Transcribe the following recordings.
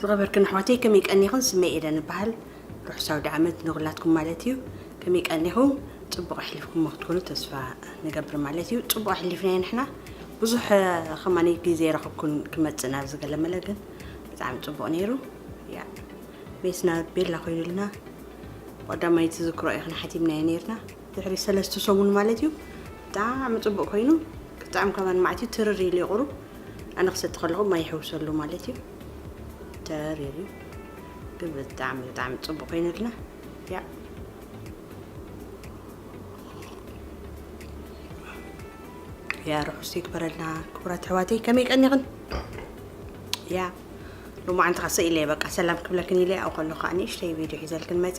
ዝኸበርክን ኣሕዋተይ ከመይ ቀኒኽን ስመይ ኤደን እበሃል ርሑስ ኣውደ ዓመት ንኹላትኩም ማለት እዩ ከመይ ቀኒኹም ፅቡቕ ኣሕሊፍኩሞ ክትኮኑ ተስፋ ንገብር ማለት እዩ ፅቡቕ ኣሕሊፍናዮ ንሕና ብዙሕ ከማኒ ግዜ ረኽብኩን ክመፅእ ናብ ዝገለመለ ግን ብጣዕሚ ፅቡቕ ነይሩ ያ ቤትና ቤላ ኮይኑልና ቀዳማይቲ ዝክሮ ኢኽን ሓቲምናዮ ነርና ድሕሪ ሰለስተ ሰሙን ማለት እዩ ብጣዕሚ ፅቡቅ ኮይኑ ብጣዕሚ ከማን ማዕትዩ ትርር ኢሉ ይቁሩ ኣነ ክሰቲ ከለኹ ማይ ይሕውሰሉ ማለት እዩ ተር ኢሉ ግን ብጣዕሚ ብጣዕሚ ፅቡቅ ኮይኑልና ያ ያ ርሑስ ይግበረልና ክቡራት ኣሕዋተይ ከመይ ቀኒኽን ያ ሎማዓንቲ ከ ሰኢለየ በቃ ሰላም ክብለክን ኢለ ኣብኡ ከለኩ ከዓ ንእሽተይ ቪድዮ ሒዘልክን መፀ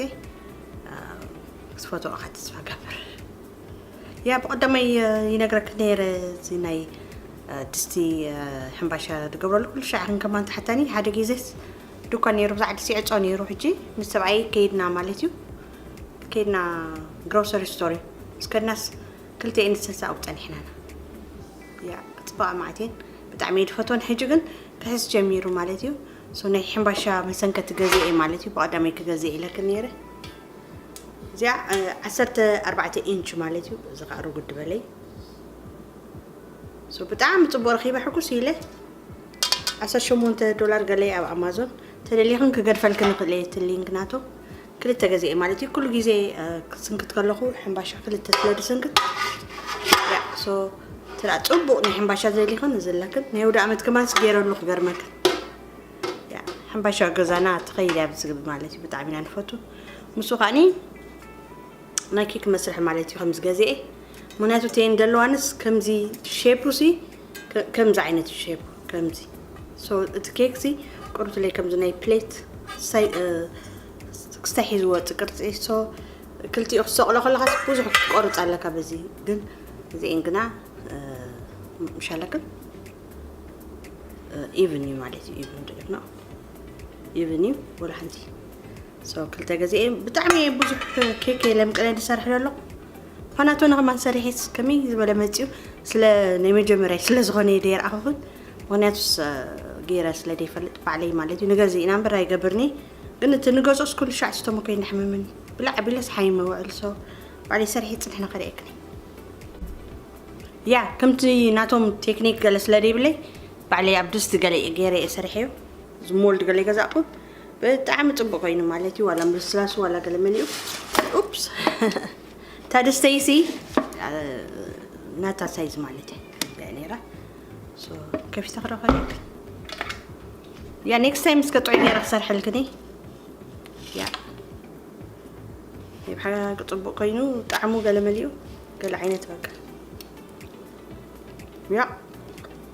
ክትፈትኦ ከዓ ተስፋ ገብር ያ ብቀዳማይ ይነግረክን ነይረ እዚ ናይ ድስቲ ሕምባሻ ትገብረሉ ኩሉ ሻዕ ክንከማን ተሓታኒ ሓደ ግዜስ ዱኳን ነይሩ ብዛዕ ድስቲ ዕፆ ነይሩ ሕጂ ምስ ሰብኣይ ከይድና ማለት እዩ ከይድና ግሮሰሪ ስቶር እዩ ምስ ከድናስ ክልተ እንሰሳ ኣብኡ ፀኒሕናና ያ ፅባቐ ማዕቴን ብጣዕሚ እየ ድፈትወን ሕጂ ግን ክሕስ ጀሚሩ ማለት እዩ ሶ ናይ ሕምባሻ መሰንከቲ ገዜ እየ ማለት እዩ ብቀዳመይ ክገዜ ኢለክን ነይረ እዚኣ ዓሰርተ ኣርባዕተ ኢንች ማለት እዩ እዚ ከዓ ርጉድ በለይ ሶ ብጣዕሚ ፅቡቅ ረኪበ ሕጉስ ኢለ ዓሰርተ ሸሞንተ ዶላር ገለይ ኣብ ኣማዞን ተደሊክን ክገድፈልክን ንክእል እየ እቲ ሊንክ ናቶ ክልተ ገዜ እየ ማለት እዩ ኩሉ ግዜ ክስንክት ከለኹ ሕምባሻ ክልተ ስለ ዝስንክት ሶ ትራ ፅቡቅ ናይ ሕምባሻ ዘሊኽን ንዝላክን ናይ ወደ ዓመት ከማንስ ገይረሉ ክገርመክን ሕምባሻ ገዛና ተኸይል እያ ብዝግቢ ማለት እዩ ብጣዕሚ ኢና ንፈቱ ንሱ ከዓኒ ናይ ኬክ መስርሒ ማለት እዩ ከምዚ ገዚኤ ምክንያቱ እተን ዘለዋንስ ከምዚ ሼፑ ሲ ከምዚ ዓይነት እዩ ሼፑ ከምዚ ሶ እቲ ኬክ ሲ ቅሩትለይ ከምዚ ናይ ፕሌት ሳይ ክስታይ ሒዝዎ ወፅእ ቅርፂ ሶ ክልቲኡ ክሰቕሎ ከለኻስ ብዙሕ ክትቆርፅ ኣለካ በዚ ግን እዚኤን ግና ምሻለክን ኢቭን እዩ ማለት እዩ ኢቭን ዶ ኢቭን ኢቭን እዩ ወላ ሓንቲ ሰው ክልተ ገዜ ብጣዕሚ ብዙሕ ኬክ ለምቅነ ዝሰርሕ ዘሎ ፋናቶ ንኸማን ሰሪሒስ ከመይ ዝበለ መፅኡ ስለ ናይ መጀመርያ ስለ ዝኾነ እየ ደይረኣኹኹን ምክንያቱስ ገይረ ስለ ደይፈልጥ ባዕለይ ማለት እዩ ንገዚ ኢና እምበር ኣይገብርኒ ግን እቲ ንገዝኦስ ኩሉ ሻዕ ስተሞ ከይናሕምምን ብላዕ ቢለስ ሓይመ ውዕል ሰው ባዕለይ ሰሪሒ ፅንሕ ንኸርእየክኒ ያ ከምቲ ናቶም ቴክኒክ ገለ ስለ ደይብለይ ባዕለይ ኣብ ድስቲ ገለ ገይረ እየ ሰሪሐዮ ዝሞልድ ገለ ይገዛእኩ ብጣዕሚ ጽቡቅ ኮይኑ ማለት እዩ ዋላ ምስላሱ ዋላ ገለ መን እዩ ኡፕስ ታደ ስቴይሲ ናታ ሳይዝ ማለት እዩ ነራ ከፊተ ክረኸ ያ ኔክስት ታይም እስከ ጥዑይ ነራ ክሰርሐልክኒ ያ ይብሓ ጽቡቅ ኮይኑ ጣዕሙ ገለ መሊኡ ገለ ዓይነት በቃ ያ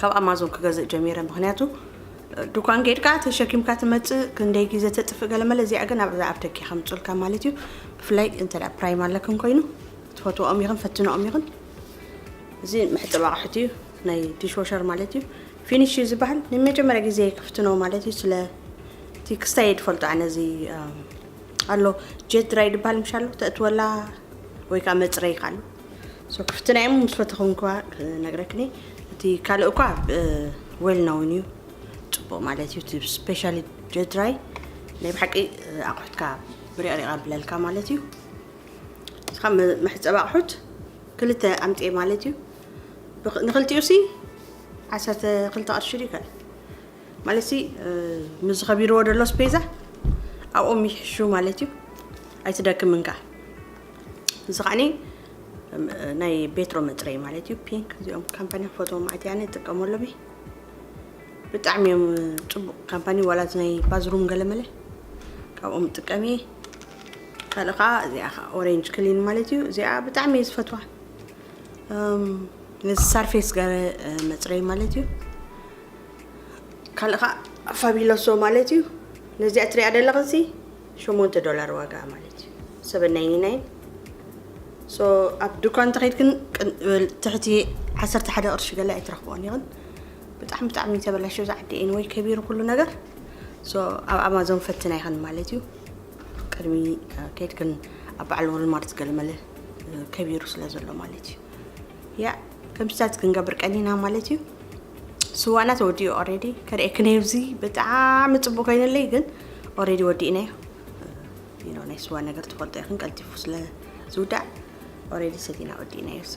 ካብ ኣማዞን ክገዝእ ጀሚረ ምክንያቱ ድኳን ጌድካ ተሸኪምካ ትመጽእ ክንደይ ግዜ ተጥፍእ ገለመለ እዚኣ ግን ኣብዛ ኣብ ደገ ከምጹልካ ማለት እዩ ብፍላይ እንተ ፕራይም ኣለክን ኮይኑ ትፈትወኦም ይኽን ፈትነኦም ይኽን እዚ መሕፀቢ ኣቕሑት እዩ ናይ ዲሽወሸር ማለት እዩ ፊኒሽ እዩ ዝበሃል ንመጀመርያ ግዜ ክፍትኖ ማለት እዩ ስለ እቲ ክስታይ ድፈልጦ ኣነ እዚ ኣሎ ጀት ድራይ ድበሃል ምሻ ኣሎ ተእትወላ ወይ ከዓ መፅረይ ካሉ So ክፍትና እዮም ምስ ፈተኹንኳ ክነግረክኒ እቲ ካልእ እኳ ዌል ናውን እዩ ፅቡቅ ማለት እዩ እቲ ስፔሻሊ ጀድራይ ናይ ብሓቂ ኣቑሑትካ ብሪቕሪቕ ኣብለልካ ማለት እዩ እስኻ መሕፀቢ ኣቑሑት ክልተ ኣምፅኤ ማለት እዩ ንክልቲኡ ሲ ዓሰርተ ክልተ ቅርሺ ድዩ ከ ማለት ሲ ምስ ዝኸቢርዎ ደሎ ስፔዛ ኣብኦም ይሕሹ ማለት እዩ ኣይትደክምን ከዓ እዚ ከዓኒ ናይ ቤትሮ መፅረይ ማለት እዩ ፒንክ እዚኦም ካምፓኒ ፎቶ ማዓት ያነ ይጥቀመሎም እየ ብጣዕሚ እዮም ፅቡቅ ካምፓኒ ዋላ እዚ ናይ ባዝሩም ገለመለ ካብኦም ጥቀም እየ ካልእ ከዓ እዚኣ ከዓ ኦሬንጅ ክሊን ማለት እዩ እዚኣ ብጣዕሚ እየ ዝፈትዋ ነዚ ሳርፌስ ገረ መፅረይ ማለት እዩ ካልእ ከዓ ፋቢሎሶ ማለት እዩ ነዚኣ ትሪኣ ደለኽንሲ ሸሞንተ ዶላር ዋጋኣ ማለት እዩ ሰበን ናይኒ ናይን ሶ ኣብ ድኳን እንተኸይድ ግን ትሕቲ ዓሰርተ ሓደ ቅርሺ ገለ ኣይትረኽብኦን ይኽን ብጣዕሚ ብጣዕሚ ተበላሸ እዚ ዓዲ ኤን ወይ ከቢሩ ኩሉ ነገር ሶ ኣብ ኣማዞን ፈትና ይኽን ማለት እዩ ቅድሚ ከይድክን ኣብ በዓል ወልማርት ገለመለ ከቢሩ ስለ ዘሎ ማለት እዩ ያ ከምዚታት ክንገብር ቀኒና ማለት እዩ ስዋእና ተወዲኡ ኦሬዲ ከርእየኪ ነብዚ ብጣዕሚ ፅቡቅ ኮይነለይ ግን ኦሬዲ ወዲእናዮ ዩ ናይ ስዋ ነገር ትፈልጦ ይኽን ቀልጢፉ ስለ ዝውዳእ ኦሬዲ ሰቲና ወዲእናዮ ሶ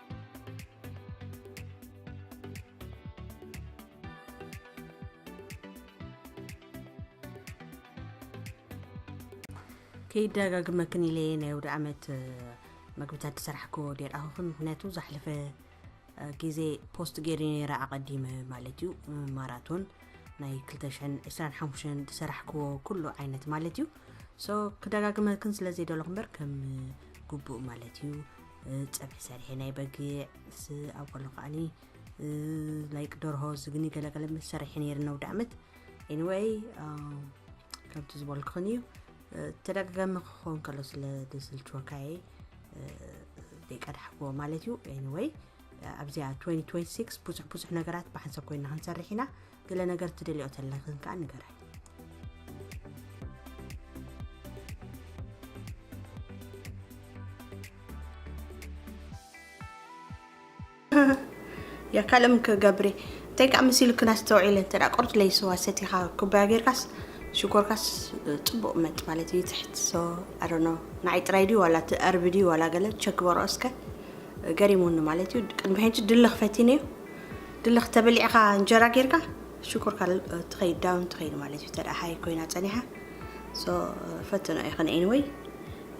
ከይደጋግመክን ኢለ እየ ናይ ወደ ዓመት መግብታት ዝሰራሕክዎ ዴርኣኹኽን ምክንያቱ ዛሕለፈ ግዜ ፖስት ገይረ ነይረ ኣቐዲመ ማለት እዩ ማራቶን ናይ 225 ዝሰራሕክዎ ኩሉ ዓይነት ማለት እዩ ሶ ክደጋግመክን ስለ ዘይደለኹ እምበር ከም ግቡእ ማለት እዩ ፀብሒ ሰሪሐ ናይ በጊዕ ምስ ኣብ ከሎ ከዓኒ ላይክ ደርሆ ዝግኒ ገለገለ ምስ ሰሪሐ ነይረ ነውዲ ዓመት ኤኒወይ ከምቲ ዝበልክን እዩ ተደጋጋሚ ክኸውን ከሎ ስለ ዝስልችወካ እየ ደቂ ድሓክዎ ማለት እዩ ኤኒወይ ኣብዚኣ 2026 ብዙሕ ብዙሕ ነገራት ብሓንሰብ ኮይና ክንሰርሕ ኢና ገለ ነገር ትደልኦ ተለክን ከዓ ንገራይ የካልም ክገብሪ እንታይ ከዓ ምስ ኢልክን ኣስተውዒለ እንተ ቆርት ለይስዋ ሰቲኻ ኩባያ ጌርካስ ሽኮርካስ ፅቡቅ መጥ ማለት እዩ ትሕት ሶ ኣዶኖ ንዓይ ጥራይ ድዩ ዋላ ትኣርቢ ድዩ ዋላ ገለ ቸክ በሮ እስከ ገሪሙኒ ማለት እዩ ቅድሚ ሕጂ ድልኽ ፈቲነ እዩ ድልኽ ተበሊዕኻ እንጀራ ጌርካ ሽኮር ካልእ ትኸይድ ዳውን ትኸይድ ማለት እዩ ተደኣ ሃይ ኮይና ጸኒሓ ሶ ፈትኖ ኢኽን ኤኒወይ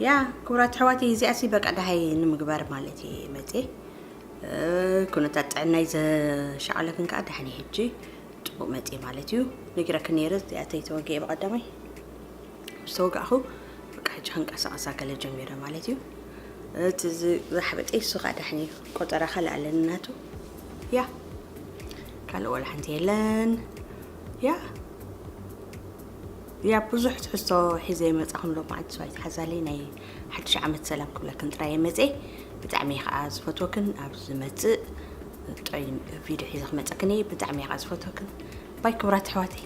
ያ ክቡራት ኣሕዋተይ እዚኣሲ በቃ ደሃይ ንምግባር ማለት እየ መጼ ኩነታት ጥዕናይ ዘሻቐለክን ከዓ ደሓኒ ሕጂ ፅቡቅ መጼ ማለት እዩ ነጊረክን ነይረ እዚኣተይ ተወጊኤ ብቐዳማይ ምስ ተወጋእኹ በቃ ሕጂ ክንቀሳቐስ ኣከለ ጀሚረ ማለት እዩ እቲ ዝሓበጠ እሱ ከዓ ዳሕኒ እዩ ቆጠራ ካልእ ኣለኒ ናቱ ያ ካልእ ዋላ ሓንቲ የለን ያ ያ ብዙሕ ትሕዝቶ ሒዘ ይመፃኹም ሎ መዓልቲ ሰው ኣይትሓዛለይ ናይ ሓድሽ ዓመት ሰላም ክብለክን ጥራይ የመፀ ብጣዕሚ እየ ከዓ ዝፈትወክን ኣብ ዝመፅእ ጥዑይ ቪድዮ ሒዘ ክመፀክን እየ ብጣዕሚ እየ ከዓ ዝፈትወክን ባይ ክብራት ኣሕዋተይ